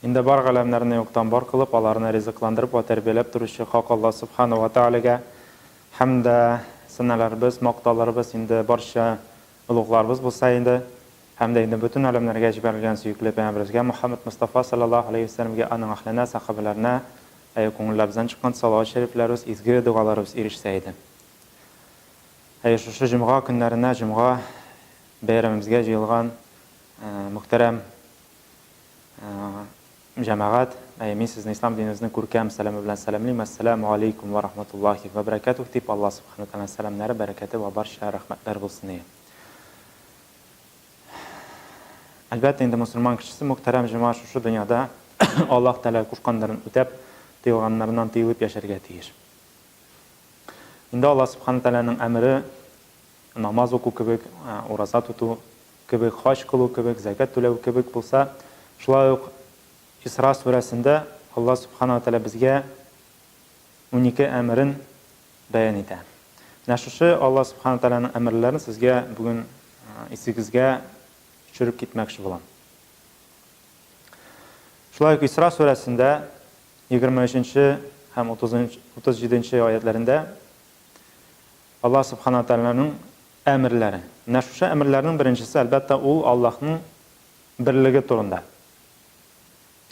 Инде бар галәмнәрне юктан бар кылып, аларны ризыкландырып вә тәрбияләп торучы хак Алла Сүбхәнәһү вә Тәгаләгә хәмдә сәналарыбыз, мактауларыбыз инде барча олугларыбыз булса иде, һәм дә инде бөтен галәмнәргә җибәрелгән сөекле пәйгамбәребезгә Мөхәммәд Мостафа сәлләллаһу галәйһи вә сәлләмгә, аның әһленә, сәхабәләренә, Әйе, күңелләребездән чыккан салават шәрифләребез, изге догаларыбыз ирешсә иде. Әйе, шушы җомга көннәренә, җомга бәйрәмебезгә җыелган мөхтәрәм җәмәгать, әйе, мин сезне ислам динебезнең күркәм сәламе белән сәламлим, Әссәләмү алейкүм вә рахматуллаһи вә бәрәкәтүһ, дип, Алла Субхана Тәгаләнең сәламнәре, бәрәкәте вә барча рәхмәтләре булсын, әйе. Әлбәттә инде мосылман кешесе мөхтәрәм җомга шушы дөньяда Аллаһ Тәгалә кушканнарын үтәп, тыелганнарыннан тыелып яшәргә тиеш. Инде Аллаһ Сүбхәнә Тәгаләнең әмере намаз уку кебек, ураза тоту кебек, хаҗ кылу кебек, зәкят түләү кебек булса, шулай ук Исра сүрәсендә Аллаһ Сүбхәнә Тәгалә безгә унике әмерен бәян итә. Менә шушы Алла Сүбхәнә Тәгаләнең әмерләрен сезгә бүген исегезгә төшереп китмәкче булам. Шулай ук Исра сүрәсендә 23 һәм 37 аятләрендә Алла Сүбхәнә Тәгаләнең әмерләре. Менә шушы әмерләрнең беренчесе, әлбәттә, ул Аллаһның берлеге турында.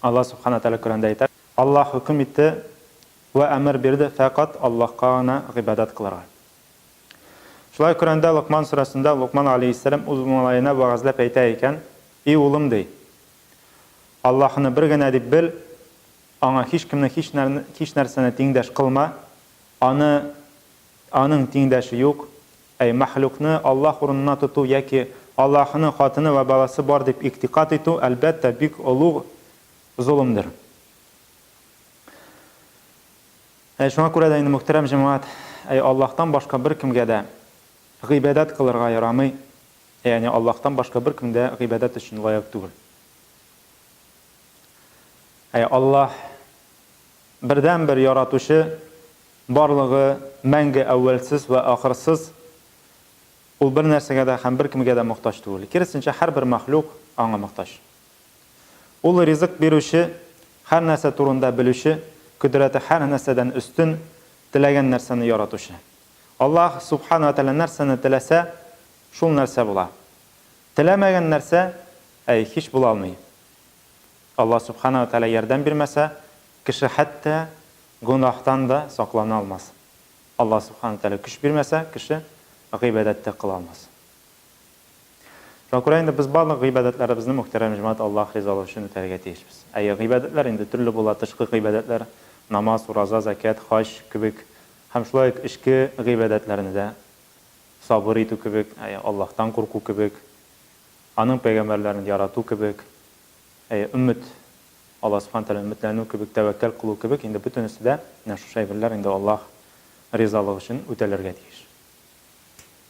Алла Сүбхәнә Тәгалә Коръәндә әйтә, Алла хөкем итте, Вә әмер бирде фәкать Аллаһка гына гыйбадәт кылырга. Шулай Коръәндә Локман сүрәсендә Локман галәйһиссәлам үз малаена вәгазьләп әйтә икән, И улым, ди, Аллаһыны бер генә дип бел, Аңа һичкемне һичнәрсәне тиңдәш кылма, Аны, Аның тиңдәше юк, әй, мәхлукны Аллаһ урынына тоту яки Аллаһыны хатыны вә баласы бар дип игътикад итү, әлбәттә, бик олуг золымдыр. Әй шуңа күрә дә инде, мөхтәрәм җәмәгать, әй Аллаһтан башка беркемгә дә гыйбадәт кылырга ярамый, ягъни Аллаһтан башка беркем дә гыйбадәт өчен лаек түгел. Әй Аллаһ, бердәнбер яратучы, барлыгы мәңге әүвәлсез вә ахырсыз, Ул бернәрсәгә дә һәм беркемгә дә мохтаҗ түгел. Киресенчә, һәрбер мәхлук Аңа мохтаҗ. Ул ризык бирүче, һәр нәрсә турында белүче, кодрәте һәр нәрсәдән өстен, теләгән нәрсәне яратучы. Аллаһ Сүбхана ва Тәгалә нәрсәне теләсә, шул нәрсә була. Теләмәгән нәрсә, әй, һич була алмый. Аллаһ Сүбхана ва Тәгалә ярдәм бирмәсә, кеше хәтта гөнаһтан да саклана алмас. Аллаһ Сүбхана ва Тәгалә көч бирмәсә, кеше гыйбадәт тә кыла алмас. Шуңа күрә инде без барлык гыйбадәтләребезне, мөхтәрәм җәмәгать, Аллаһ ризалыгы өчен үтәргә тиешбез. Әйе, гыйбадәтләр инде төрле була, тышкы гыйбадәтләр, намаз, ураза, зәкят, хаҗ кебек, һәм шулай ук эчке гыйбадәтләрне дә, сабыр итү кебек, әйе, Аллаһтан курку кебек, Аның пәйгамбәрләрен ярату кебек, әйе, өмет, Аллаһ Субхана Тәгаләдән өметләнү кебек, тәвәккәл кылу кебек, инде бөтенесе дә, менә шушы әйберләр инде Аллаһ ризалыгы өчен үтәлергә тиеш.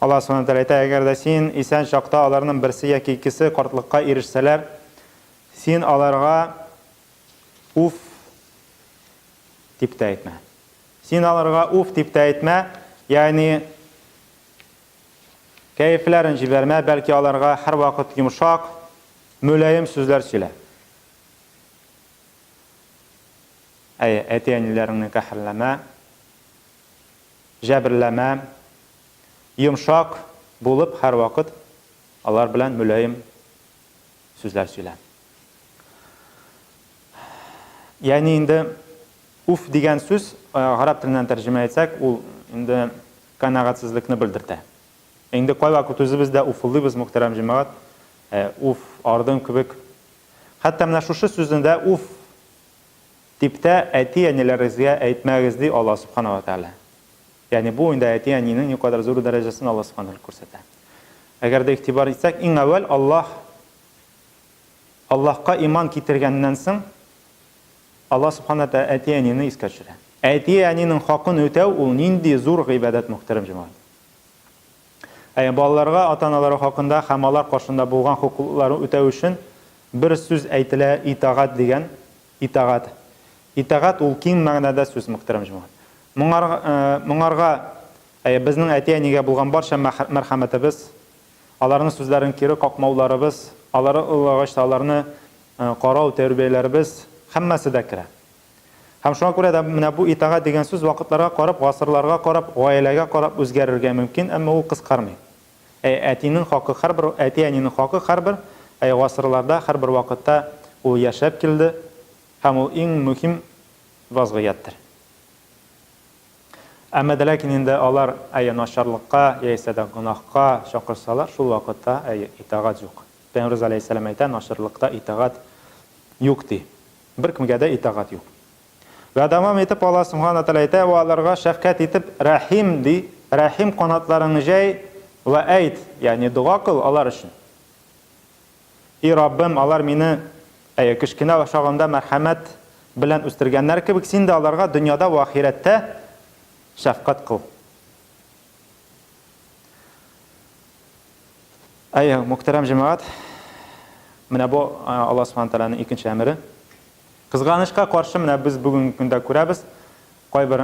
Аллаһ Сүбхәнә Тәгалә әйтә, Әгәр дә син исән чакта аларның берсе яки икесе картлыкка ирешсәләр, син аларга Уф! дип тә әйтмә. Син аларга Уф! дип тә әйтмә, ягъни кәефләрен җибәрмә, бәлки аларга һәрвакыт йомшак, мөлаем сүзләр сөйлә. Әйе, әти-әниләреңне каһәрләмә. җәберләмә, йомшак булып һәрвакыт алар белән мөлаем сүзләр сөйлә. Ягъни инде уф дигән сүз, гарәп теленнән тәрҗемә итсәк, ул инде канәгатьсезлекне белдертә. Инде кайвакыт үзебез дә уфылдыйбыз, мөхтәрәм җәмәгать, уф, ардым кебек. Хәтта менә шушы сүзне дә уф. Дип тә әти-әниләрегезгә әйтмәгез, ди Аллаһ Сүбхәнәһү вә Тәгалә. Ягъни бу инде әти-әнинең никадәр зур дәрәҗәсен Аллаһ Сүбхәнәһү вә Тәгалә күрсәтә. Әгәр дә игътибар итсәк, иң әүвәл Аллаһ, Аллаһка иман китергәннән соң, Аллаһ Сүбхәнәһү вә Тәгалә әти-әнине искә төшерә. Әти-әнинең хакын үтәү ул нинди зур гыйбадәт, мөхтәрәм җәмәгать! Әйе, балаларга ата-аналары хакында һәм алар каршында булган хокукларын үтәү өчен бер сүз әйтелә, итагать дигән Итагать. Итагать ул киң мәгънәдә сүз, мөхтәрәм җәмәгать. Моңар, моңарга әйе, безнең әти-әнигә булган барча мәрхәмәтебез, аларның сүзләрен кире какмауларыбыз, алары олылагач та аларны карау, тәрбияләребез, һәммәсе дә керә. Һәм шуңа күрә дә менә бу итагать дигән сүз вакытларга карап, гасырларга карап, гаиләгә карап үзгәрергә мөмкин, әмма ул кыскармый. Ә әтинең хакы хәрбер әти-әнинең хакы хәрбер ә гасырларда, хәрбер вакытта ул яшәп килде һәм ул иң мөһим вазгыятьтер. Әмма дә ләкин инде алар әйе начарлыкка яисә дә гөнаһка чакырсалар, шул вакытта әйе итагать юк. Пәйгамбәребез галәйһиссәлам әйтә, начарлыкта итагать юк ди. Беркемгә дә итагать юк. Га дәвам итеп Алла Субхана Тәгалә әйтә, Вә аларга шәфкать итеп, рәхим, ди, рәхим канатларыңны җәй, вә әйт, ягъни дога кыл алар өчен, И Раббым, алар мине, әйе, кечкенә чагымда мәрхәмәт белән үстергәннәр кебек, Син дә аларга дөньяда вә ахирәттә шәфкать кыл. Әйе, мөхтәрәм җәмәгать, менә бу Алла Субхана Тәгаләнең икенче әмере. Кызганычка каршы, менә без бүгенге көндә күрәбез, кайбер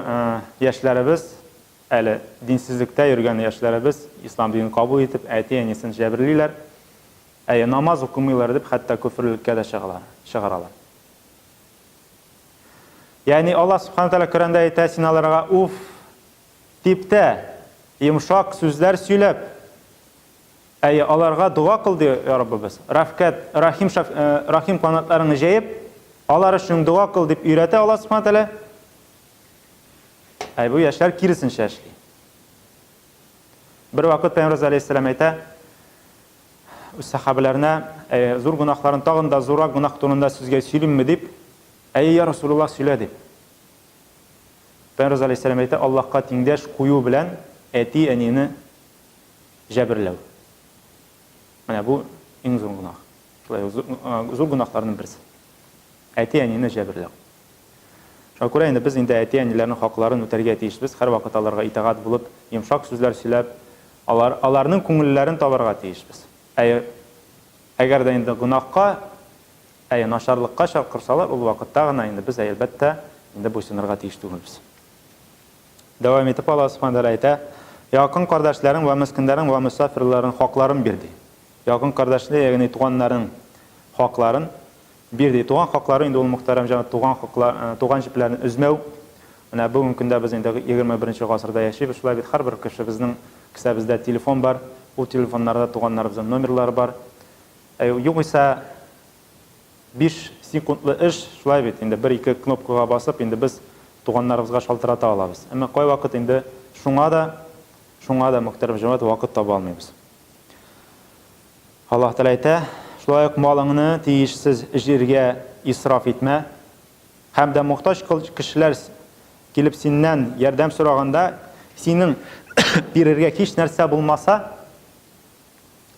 яшьләребез, әле динсезлектә йөргән яшьләребез ислам динен кабул итеп, әти-әнисен җәберлиләр, әйе, намаз укымыйлар дип, хәтта көферлеккә дә чыгалар, чыгаралар. Ягъни Аллаһ Сүбхәнә Тәгалә Коръәндә әйтә, син аларга уф дип тә, йомшак сүзләр сөйләп, Әйе, аларга дога кыл, ди Раббыбыз. Рәфкать, рәхим, рәхим канатларыңны җәеп, алар өчен дога кыл, дип өйрәтә Аллаһ Субхана Тәгалә. Әй бу яшьләр киресенчә эшли. Бер вакыт Пәйгамбәр галәйһиссәлам әйтә, үз сахабәләренә зур гөнаһларын тагын да зуррак гөнаһ турында сүзгә сөйлимме дип, әйе, я Расулуллах, сөйлә дип. Пәйгамбәр галәйһиссәлам әйтә, Аллаһка тиңдәш кую белән әти-әнине җәберләү. Менә бу иң зур гөнаһ. Шулай ук зур гөнаһларның берсе. Әти-әнине җәберләү. Шуңа күрә инде без инде әти-әниләрнең хакларын үтәргә тиешбез, һәрвакыт аларга итагать булып, йомшак сүзләр сөйләп, алар, аларның күңелләрен табарга тиешбез. Әйе, әгәр дә инде гөнаһка, әйе, начарлыкка чакырсалар, ул вакытта гына инде без, әлбәттә, инде буйсынырга тиеш түгелбез. Дәвам итеп Аллаһ Субхана Тәгалә әйтә, Якын кардәшләрең вә мескеннәрең вә мөсафирларың хакларын бир, ди. Якын кардәшле, ягъни туганнарың хакларын бир, ди. Туган хаклары инде ул, мөхтәрәм җәмәгать, туган хакла, туган җепләрне өзмәү. Менә бүгенге көндә без инде егерме беренче гасырда яшибез, шулай бит, һәрбер кешебезнең кесәбездә телефон бар, ул телефоннарда туганнарыбызның номерлары бар. Югыйсә, Биш секундлы эш, шулай бит, инде бер-ике кнопкага басып, инде без туганнарыбызга шалтырата алабыз. Әмма кайвакыт инде шуңа да, шуңа да, мөхтәрәм җәмәгать, вакыт таба алмыйбыз. Аллаһ Тәгалә әйтә, Шулай ук малыңны тиешсез җиргә исраф итмә. Һәм дә мохтаҗ кешеләр килеп синнән ярдәм сораганда, синең бирергә һичнәрсә булмаса,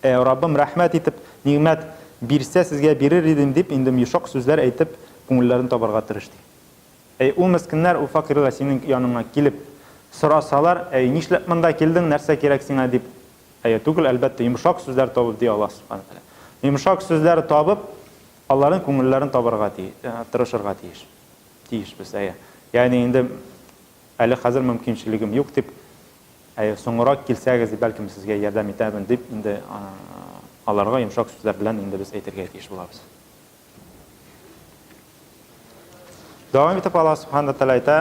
Э, Раббым, рәхмәт итеп, нигъмәт бирсә, сезгә бирер идем, дип, инде йошак сүзләр әйтеп, күңелләрен табарга тырыш, ди. Әй, ул мескеннәр, ул факирлар синең яныңа килеп сорасалар, Әй, нишләп монда килдең, нәрсә кирәк сиңа, дип, әйе, түгел, әлбәттә, йомшак сүзләр табып, ди Аллаһ Субхана Тәгалә. Йомшак сүзләр табып, аларның күңелләрен табарга тиеш, э, тырышырга тиеш. Тиешбез, әйе. Ягъни инде Әле хәзер мөмкинчелегем юк, дип, ә соңрак килсәгез, бәлкем сезгә ярдәм итәрмен, дип инде аларга йомшак сүзләр белән инде без әйтергә тиеш булабыз. Дәвам итеп Аллаһ Субхана Тәгалә әйтә,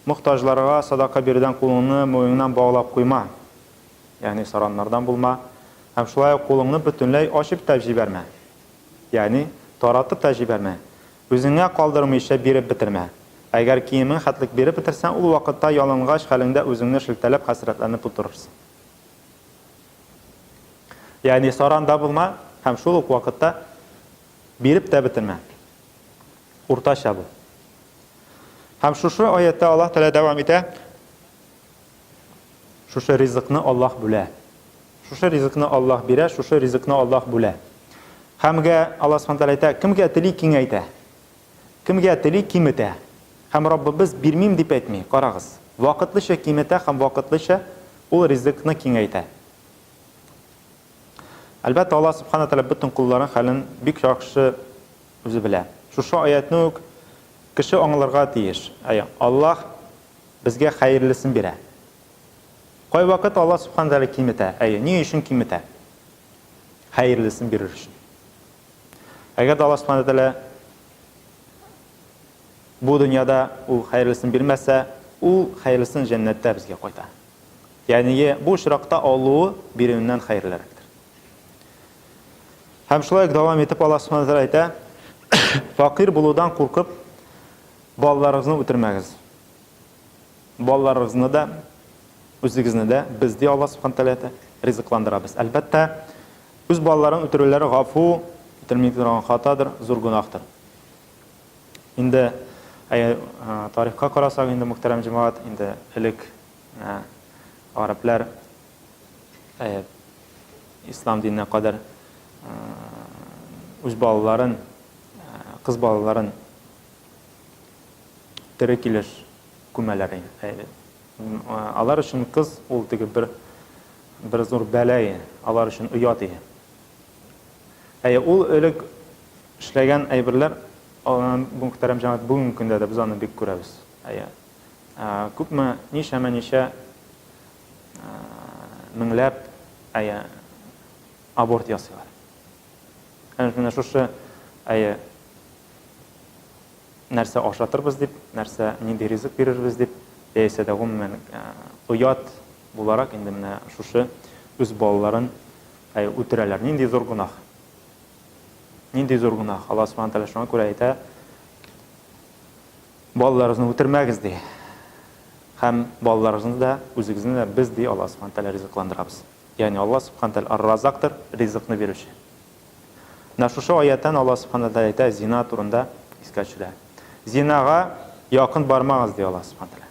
Мохтаҗларга садака бирүдән кулыңны муеңнан баулап куйма, ягъни сараннардан булма, һәм шулай ук кулыңны бөтенләй ачып та җибәрмә, ягъни таратып та җибәрмә. Үзеңә калдырмыйча биреп бетермә. Әгәр киемең хәтлек биреп бетерсәң, ул вакытта ялангач хәлеңдә үзеңне шелтәләп хәсрәтләнеп утырырсың. Ягъни саран да булма һәм шул ук вакытта биреп тә бетермә. Уртача бул. Һәм шушы аятьтә Аллаһ Тәгалә дәвам итә. Шушы ризыкны Аллаһ бүлә. Шушы ризыкны Аллаһ бирә, шушы ризыкны Аллаһ бүлә. Хәмгә Аллаһ Субхану Тәгалә әйтә, кемгә тели киңәйтә, кемгә тели киметә. Һәм Раббыбыз бирмим дип әйтми, карагыз. Вакытлыча киметә һәм вакытлыча Ул ризыкны киңәйтә. Әлбәттә, Аллаһ Субхану Тәгалә бөтен кулларының хәлен бик яхшы үзе белә. Шушы аятьне үк кеше аңларга тиеш. Әй, Аллаһ Безгә хәерлесен бирә. Кайвакыт Алла Сүбхәнә ва Тәгалә киметә. Әйе, ни өчен киметә? Хәерлесен бирер өчен. Әгәр дә Алла Сүбхәнә ва Тәгалә бу дөньяда Ул хәерлесен бирмәсә, Ул хәерлесен җәннәттә безгә кайта. Яние, бу очракта алуы бирүеннән хәерлерәктер. Һәм шулай ук дәвам итеп Алла Сүбхәнә ва Тәгалә әйтә, Фәкыйрь булудан куркып, Балаларыгызны үтермәгез. Балаларыгызны да, үзегезне дә без, ди Алла Субхана Тәгалә, ризыкландырабыз. Әлбәттә, үз балаларын үтерүләре гафу ителми торган хатадыр, зур гөнаһтыр. Инде тарихка карасак, инде мөхтәрәм җәмәгать, инде элек гарәпләр ислам диненә кадәр үз балаларын, кыз балаларын Тере килеш күмәләр иде. Алар өчен кыз ул теге бер бер зур бәла иде, алар өчен оят иде. Әйе, ул элек эшләгән әйберләр, бу мөхтәрәм җәмәгать, бүгенге көндә дә без аны бик күрәбез. Әйе. Күпме, ничәмә ничә меңләп, әйе, аборт ясыйлар. Әнә шушы, әйе, нәрсә ашатырбыз дип, нәрсә, нинди ризык бирербез дип, яисә дә, гомумән, оят буларак инде менә шушы үз балаларын үтерәләр. Нинди зур гөнаһ! Нинди зур гөнаһ! Алла Субхана Тәгалә шуңа күрә әйтә, балаларыгызны үтермәгез, ди. Һәм балаларыгызны да, үзегезне дә без, ди, Алла Субхана Тәгалә ризыкландырабыз. Ягъни Алла Субхана Тәгалә ар-Разактыр, ризыкны бирүче. Менә шушы аятән Алла Субхана Тәгалә әйтә, зина турында искә төшерә. Зинага якын бармагыз, ди Алла Субхана Тәгалә.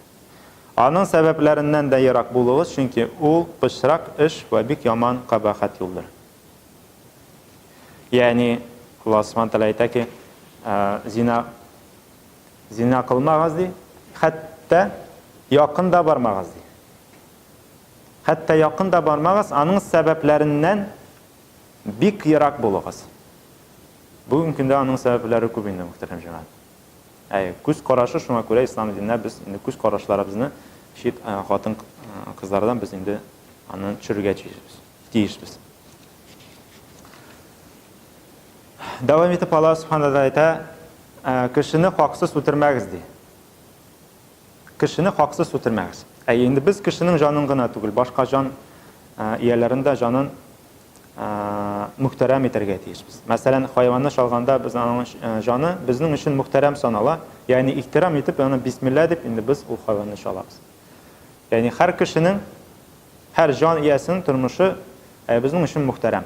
Аның сәбәпләреннән дә ерак булыгыз, чөнки ул пычрак эш вә бик яман кабахәт юлдыр. Ягъни Алла Субхана Тәгалә әйтә ки, зина зина кылмагыз, ди, хәтта якын да бармагыз, ди. Хәтта якын да бармагыз, аның сәбәпләреннән Бик ерак булыгыз. Бүген көндә аның сәбәпләре күп инде, мөхтәрәм җәмәгать. Әй, күз карашы, шуңа күрә ислам диненә без инде күз карашларыбызны чит хатын кызлардан без инде аны төшерергә тиешбез. Тиешбез. Дәвам итеп Аллаһ Субханаһу ва Тааля әйтә, кешене хаксыз үтермәгез ди. Кешене хаксыз үтермәгез. Әйе, инде без кешенең җанын гына түгел, башка җан ияләрен дә җанын мөхтәрәм итәргә тиешбез. Мәсәлән, хайванны чалганда без аның җаны безнең өчен мөхтәрәм санала, ягъни ихтирам итеп аны бисмилла дип инде без ул хайванны чалабыз. Ягъни һәр кешенең, һәр җан иясенең тормышы безнең өчен мөхтәрәм.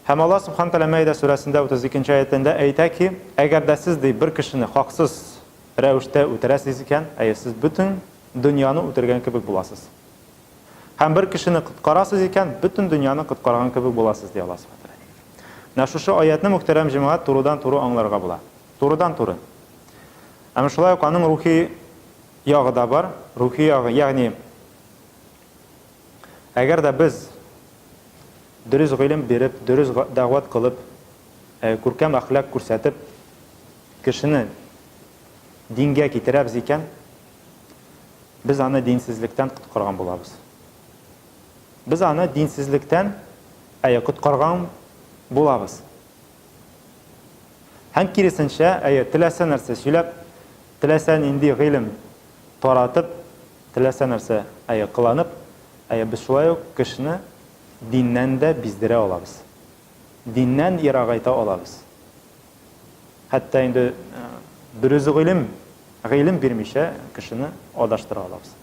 Һәм Аллаһ Субхаһу ва Тәгалә Мәида сүрәсендә 32 нче аятендә әйтә ки, Әгәр дә сез, ди, бер кешене хаксыз рәвештә үтерәсез икән, әйе, сез бөтен дөньяны үтергән кебек буласыз. Һәм бер кешене коткарасыз икән, бөтен дөньяны коткарган кебек буласыз, ди Аллаһ Субхаһу ва Тәгалә. Менә шушы аятьне, мөхтәрәм җәмәгать, турыдан-туры аңларга була. Турыдан-туры. Әмма шулай ук аның рухи ягы да бар. Рухи ягы, ягъни, Әгәр дә без дөрес гыйлем биреп, дөрес дәгъват кылып, күркәм әхлак күрсәтеп, кешене дингә китерәбез икән, без аны динсезлектән коткарган булабыз. Без аны динсезлектән, әйе, коткарган булабыз. Һәм киресенчә, әйе, теләсә нәрсә сөйләп, теләсә нинди гыйлем таратып, Теләсә нәрсә, әйе, кыланып, әйе, без шулай ук кешене диннән дә биздерә алабыз. Диннән ерагайта алабыз. Хәтта инде дөрес гыйлем, гыйлем бирмичә кешене адаштыра алабыз.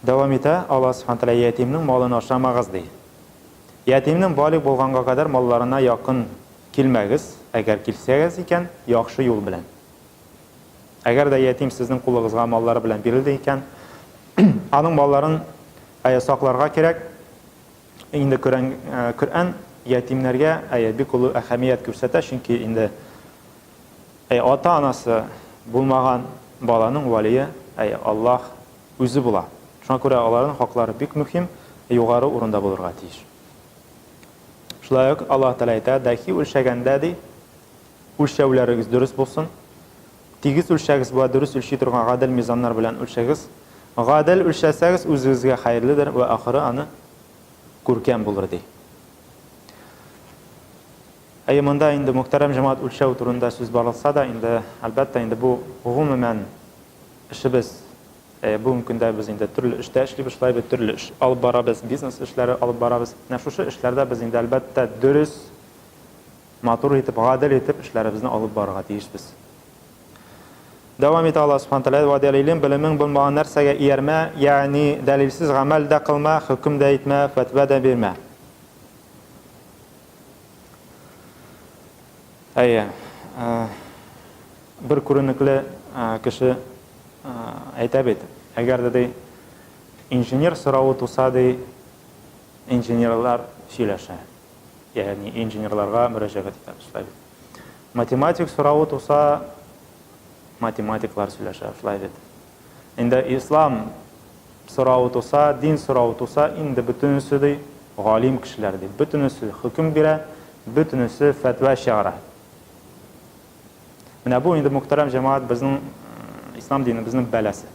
Дәвам итә, Алла Субхана Тәгалә, Ятимнең малын ашамагыз, ди. Ятимнең балигъ булганга кадәр малларына якын килмәгез, әгәр килсәгез икән, яхшы юл белән. Әгәр дә ятим сезнең кулыгызга маллары белән бирелде икән, аның малларын әйе сакларга кирәк. Инде Коръән Коръән ятимнәргә әйе бик олы әһәмият күрсәтә, чөнки инде әйе ата-анасы булмаган баланың валие әйе Аллаһ үзе була. Шуңа күрә аларның хаклары бик мөһим, югары урында булырга тиеш. Шулай ук Аллаһ Тәгалә әйтә, Дәхи үлчәгәндә ди, Үлчәүләрегез дөрес булсын. Тигез үлчәгез вә дөрес үлчи торган гадел мизаннар белән үлчәгез. Гадел үлчәсәгез, үзегезгә хәерледер вә ахыры аны күркәм булыр, ди. Әйе, монда инде, мөхтәрәм җәмәгать, үлчәү турында сүз барылса да, инде, әлбәттә, инде бу гомумән эшебез. Әйе, бүгенге көндә без инде төрле эштә эшли башлайбыз, төрле эш алып барабыз, бизнес эшләре алып барабыз. Менә шушы эшләрдә без инде, әлбәттә, дөрес Матур итеп, гадел итеп эшләребезне алып барырга тиешбез. Дәвам итә Аллаһ Субхана Тәгалә, Вә дәлилем, белемең булмаган нәрсәгә иярмә, ягъни дәлилсез гамәл дә кылма, хөкем дә итмә, фәтва дә бирмә. Әйе, бер күренекле кеше әйтә бит, әгәр дә ди, инженер соравы туса, ди, инженерлар сөйләшә. ягъни инженерларга мөрәҗәгать итә башлый бит. Математик соравы туса, математиклар сөйләшә башлый бит. Инде ислам соравы туса, дин соравы туса, инде бөтенесе ди галим кешеләр ди. Бөтенесе хөкем бирә, бөтенесе фәтва чыгара. Менә бу инде мөхтәрәм җәмәгать безнең ислам динебезнең бәласе.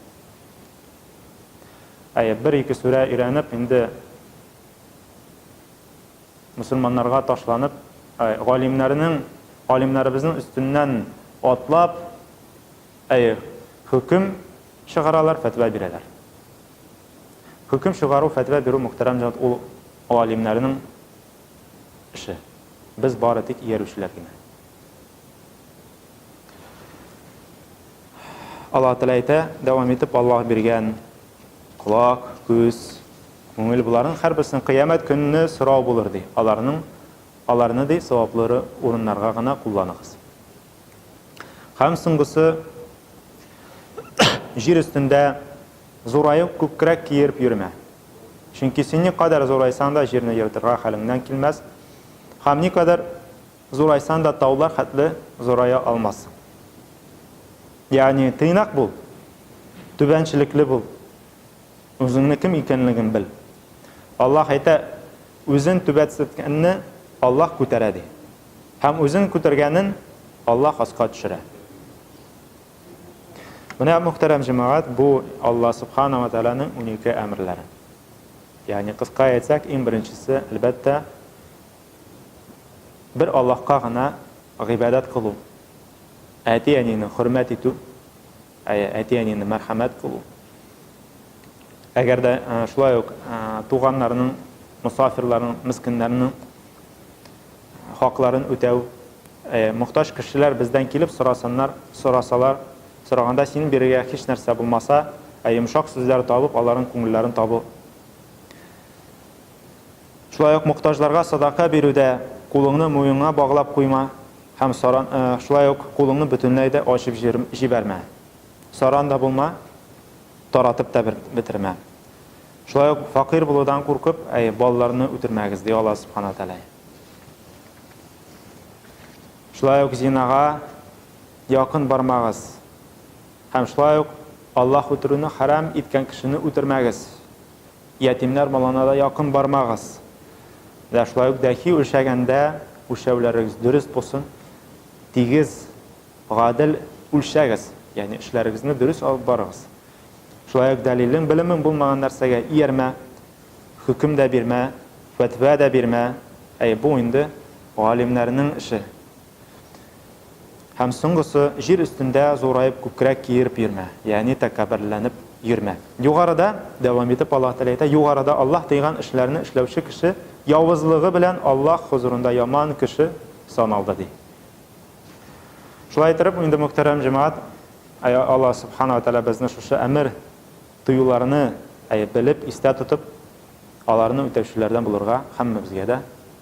Әйе, бер-ике сүрә өйрәнеп, инде Мөселманнарга ташланып, әй, галимнәрнең, галимнәребезнең өстеннән атлап, әй, хөкем чыгаралар, фәтва бирәләр. Хөкем чыгару, фәтва бирү, мөхтәрәм җәмәгать, ул галимнәрнең эше. Без бары тик иярүчеләр генә. Аллаһ Тәгалә әйтә, дәвам итеп Аллаһ биргән колак, күз, күңел буларның һәрберсен кыямәт көнне сорау булыр ди. Аларның аларны ди саваплары урыннарга гына кулланыгыз. Хәм соңгысы җир өстендә зураеп күккрәк киереп йөрмә. Чөнки син ни кадәр зурайсаң да җирне ертырга хәлеңнән килмәс. Хәм ни кадәр Зурайсаң да таулар хәтле зурая алмассың. Ягъни, тыйнак бул, түбәнчелекле бул, үзеңне кем икәнлеген бел. Аллаһ әйтә, Үзен түбәтсеткәнне Аллаһ күтәрә, ди. Һәм үзен күтәргәнен Аллаһ аска төшерә. Менә, мөхтәрәм җәмәгать, бу Аллаһ Субхана ва Тәгаләнең унике әмерләре. Ягъни, кыская әйтсәк, иң беренчесе, әлбәттә, Бер Аллаһка гына гыйбадәт кылу, әти-әнине хөрмәт итү, әти-әнине мәрхәмәт кылу. Әгәр дә шулай ук туганнарның, мосафирларның, мескеннәрнең хакларын үтәү, мохтаҗ кешеләр бездән килеп сорасаннар, сорасалар, сораганда синең бирергә һич нәрсә булмаса, ә йомшак сүзләр табып, аларның күңелләрен табу. Шулай ук мохтаҗларга садака бирүдә кулыңны муенңа баглап куйма һәм саран шулай ук кулыңны бөтенләй дә ачып җибәрмә. Саран да булма, таратып та бетермә. Шулай ук факыйрь булудан куркып, әй, балаларны үтермәгез, ди Алла Субхана ва Тәгалә. Шулай ук зинага якын бармагыз һәм шулай ук Аллаһ үтерүне хәрам иткән кешене үтермәгез, Ятимнәр малына да якын бармагыз. Вә шулай ук дәхи үлчәгәндә үлчәүләрегез дөрес булсын, тигез, гадел үлчәгез, ягъни эшләрегезне дөрес алып барыгыз. Шулай ук дәлилең, белемең булмаган нәрсәгә иярмә, хөкем дә бирмә, фәтва дә бирмә, әй, бу инде галимнәрнең эше, Һәм соңгысы, җир өстендә зураеп күкрәк киереп йөрмә, ягъни тәкәббәрләнеп йөрмә. Югарыда, дәвам итеп, Аллаһ Тәгалә әйтә, Югарыда Аллаһ тыйган эшләрне эшләүче кеше явызлыгы белән Аллаһ хозурында яман кеше саналды, ди. Шулай иттереп, инде, мөхтәрәм җәмәгать, Аллаһ Субхана ва Тәгалә безне шушы әмер, тыюларны белеп, истә тотып, аларны үтәүчеләрдән булырга һәммәбезгә дә